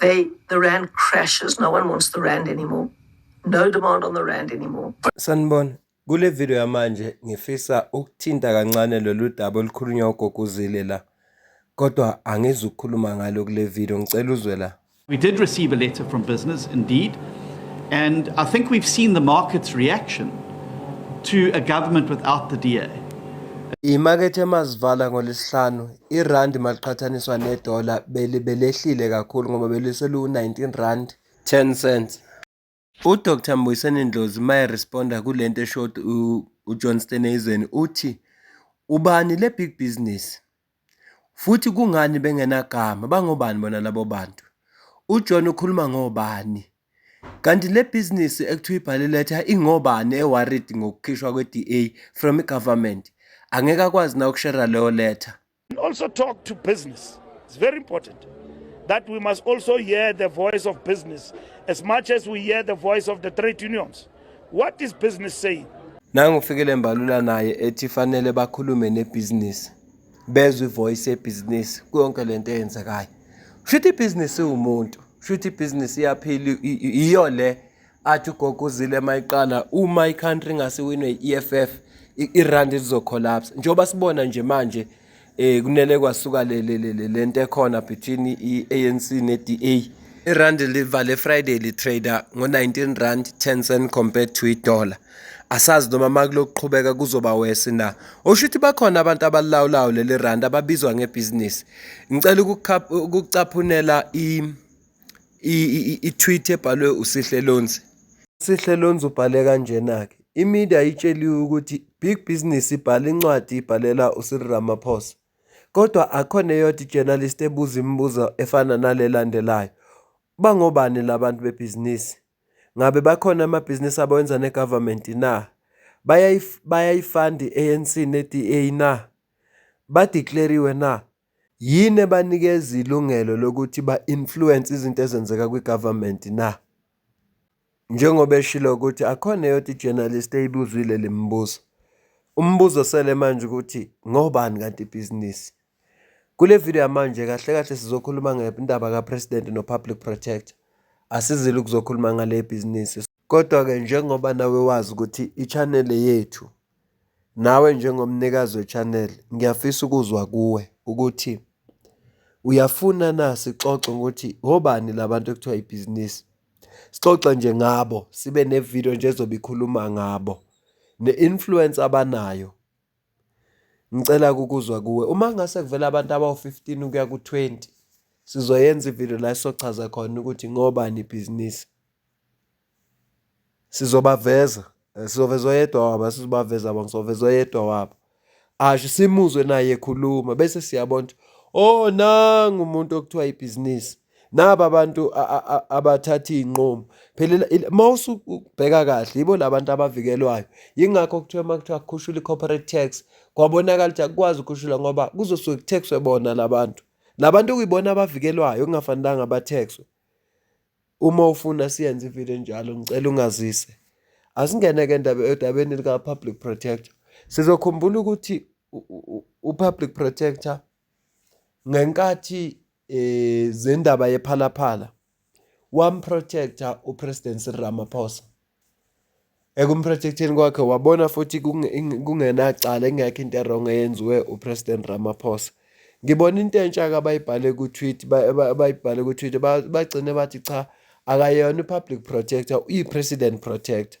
They, the rand crashes. No one wants the rand anymore. No demand on the rand anymore. Sanibona. Kule video yamanje ngifisa ukuthinta kancane lolu daba olukhulunywa ugoguzile la. Kodwa angizukukhuluma ngalo kule video ngicela uzwe la. We did receive a letter from business indeed and I think we've seen the market's reaction to a government without the DA. Imakethe emazivala ngolesihlanu Irandi maliqhathaniswa nedola belehlile kakhulu ngoba beliseluwu-19 rand 10 cents. UDr Mbuyiseni Ndlozi uma eresponda kule nto esho uJohn Steenhuisen uthi ubani le big business futhi kungani bengenagama bangobani bona labo bantu uJohn ukhuluma ngobani Kanti le bhizinisi ekuthiwa ibhale letha ingobani eworried ngokukhishwa kwe-DA from i-government? Angeke akwazi na ukushera leyo letha? Also talk to business. It's very important that we must also hear the voice of business as much as we hear the voice of the trade unions. What is business saying? Nangu uFikile Mbalula naye ethi fanele bakhulume nebhizinisi. bezwe ivoice yebhizinisi kuyonke le nto eyenzekayo shuthi ibhizinisi iwumuntu shuthi ibhizinisi iyaphila iyo le athi ugogo uzile uma iqala uma i-country ingasiwinwe i-eff irandi lizocollapse njengoba sibona nje manje um kunele kwasuka le nto ekhona between i-anc ne-da irandi livale friday litrader ngo-19 rand 10 cent compared to idollar asazi noma makulokuqhubeka kuzoba wesi na osho ukuthi bakhona abantu abalilawulayo leli rand ababizwa ngebhizinisi ngicela ukucaphunela i-tweet ebhalwe usihle lonzi sihle lonzi ubhale kanjena-ke imedia itsheliwe ukuthi big business ibhala incwadi ibhalela usiri ramaphosa kodwa akhona eyodwa ijournalist ebuza imibuzo efana nalelandelayo bangobani labantu bebhizinisi Ngabe bakhona amabhizinisi abawenza ne-government na? Bayayifanda i-ANC ne-DA na? Ba-declare-iwe na? Yini ebanikeza ilungelo lokuthi ba-influence izinto ezenzeka kwi-government na? Njengoba eshilo ukuthi akhona eyodwa i-journalist eyibuzwile le mibuzo. Umbuzo osele manje ukuthi ngobani kanti ibhizinisi? Kule video yamanje kahle kahle sizokhuluma ngendaba kaPresident noPublic Protector. Asizile ukuzokhuluma ngale bhizinisi. Kodwa-ke njengoba nawe wazi ukuthi i-channel yethu nawe njengomnikazi we-channel ngiyafisa ukuzwa kuwe ukuthi uyafuna na sixoxe ngokuthi obani labantu ekuthiwa ibhizinisi. Sixoxe nje ngabo sibe ne-video nje ezobe ikhuluma ngabo ne-influence abanayo Ngicela ukuzwa kuwe uma ngase kuvela abantu abawu-fifteen ukuya ku-twenty, sizoyenza ividiyo la sizochaza khona ukuthi ngobani ibhizinisi. Sizobaveza, sizoveza oyedwa wabo, asizubaveza bonke, sizoveza oyedwa wabo. Asho simuzwe naye ekhuluma bese siyabona ukuthi, oh nangu umuntu okuthiwa ibhizinisi. naba abantu abathatha iy'nqumo phela uma usubheka kahle yibo la bantu abavikelwayo yingakho kuthiwa uma kuthiwa kukhushula i-corporate tax kwabonakala ukuthi akukwazi ukukhushula ngoba kuzosuke kuthexwe bona la bantu la bantu kuyibona abavikelwayo kungafanelanga bathexwe uma ufuna siyenze ividiyo enjalo ngicela ungazise asingene-ke edabeni lika-public protector sizokhumbula ukuthi u-public protector ngenkathi eh zendaba yephalaphala wamprotector uPresident Cyril Ramaphosa ekumprotecteni kwakhe wabona futhi kungenacala ingekho into erong eyenziwe uPresident Ramaphosa ngibona into entsha-ke abayibhale ku-tweet abayibhale ku-tweet bagcine bathi cha akayona i-public protector uyi-president protector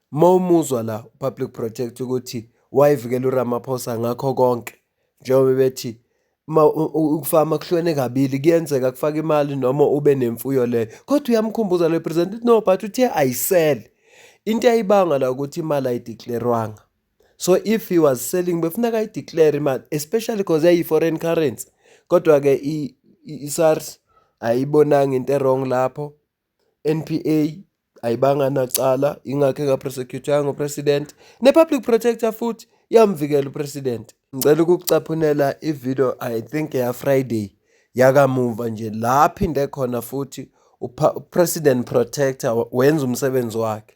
Uma umuzwa la uPublic Protector ukuthi wayevikela uRamaphosa ngakho konke njengoba bethi ma ukufama kuhlwene kabili kuyenzeka kufaka imali noma ube nemfuyo leyo kodwa uyamkhumbuza le president no but uthe ayisele into ayibanga la ukuthi imali ayideclarewanga so if he was selling befuna kayideclare imali especially because yayi-foreign currency kodwa-ke i-sars ayibonanga into erong lapho NPA ayibanga nacala ingakho engaprosecuthwanga upresident ne-public protector futhi yamvikela upresident ngicela ukukucaphunela ivideo i think yafriday yakamuva nje la phinde khona futhi upresident protector wenza umsebenzi wakhe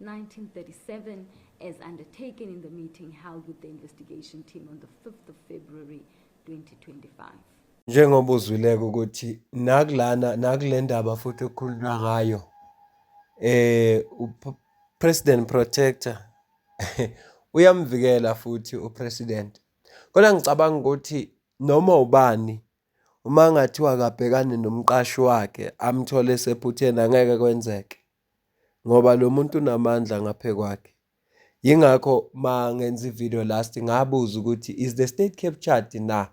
1937 as undertaken in the meeting held with the investigation team on the 5th of February 2025. Njengoba uzwileke ukuthi nakulana nakule ndaba futhi okukhulunywa ngayo eh uPresident Protector uyamvikela futhi uPresident. Kodwa ngicabanga ukuthi noma ubani uma ngathiwa akabhekane nomqashi wakhe amthole esephutheni angeke kwenzeke. ngoba lo muntu unamandla ngaphe kwakhe. Yingakho uma ngenza i-video last ngabuza ukuthi is the state captured na?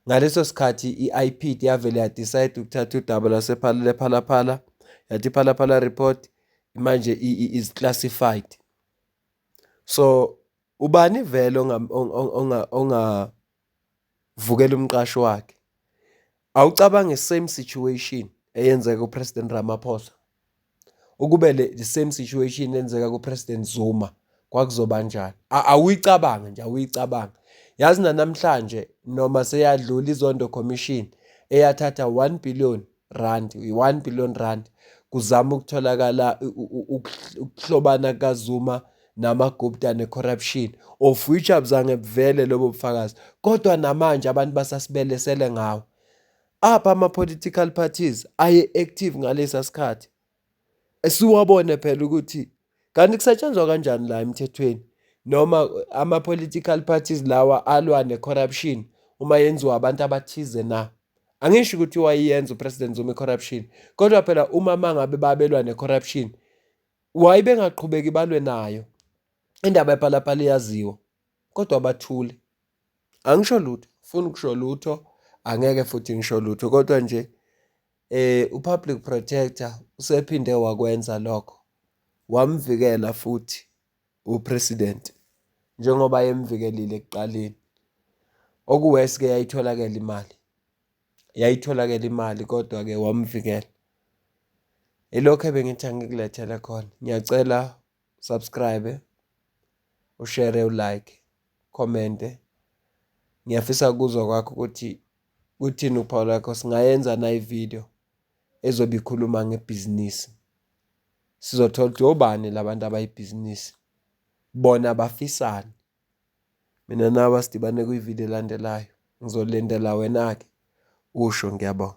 Ngaleso sikhathi i-IPD yavele yadicide ukuthatha udaba lwasephalaphala yathi iphalaphala report manje is classified. So ubani vele onga vukela umqashi wakhe awucabange same situation eyenzeka kuPresident Ramaphosa ukube le the same situation enzeka kuPresident Zuma kwakuzoba njani awuyicabange nje awuyicabange yazi nanamhlanje noma seyadlula izondo commission eyathatha 1 billion rand yi-one billion rand kuzama ukutholakala ukuhlobana kukazuma namagupta ne-corruption of which abuzange buvele lobo bufakazi kodwa namanje abantu basasibelesele ngawo apha ama-political parties aye-active ngalesa sikhathi siwabone phela ukuthi kanti kusetshenzwa kanjani la emthethweni noma ama-political parties lawa alwa ne-corruption uma yenziwa abantu abathize na angisho ukuthi wayeyenza upresident zuma i-corruption kodwa phela uma mangabe babelwa ne-corruption waye bengaqhubeki balwe nayo indaba ephalaphala iyaziwa kodwa bathule angisho lutho funa ukusho lutho angeke futhi ngisho lutho kodwa nje Eh uPublic Protector usephinde wakwenza lokho. Wamvikela futhi uPresident njengoba yemvikelile ekuqaleni. Okuwesi ke yayitholakala imali. Yayitholakala imali kodwa ke wamvikela. Ilokho ebengithi angikulethele khona. Ngiyacela subscribe, ushare, ulike, commente. Ngiyafisa ukuzwa kwakho ukuthi kuthini uphawu lakho singayenza na ivideo ezobe ikhuluma ngebhizinisi. Sizothola ukuthi obani labantu abayibhizinisi. Bona bafisani. Mina nawe sidibane kwivideo elandelayo. Ngizolindela wena-ke usho ngiyabonga.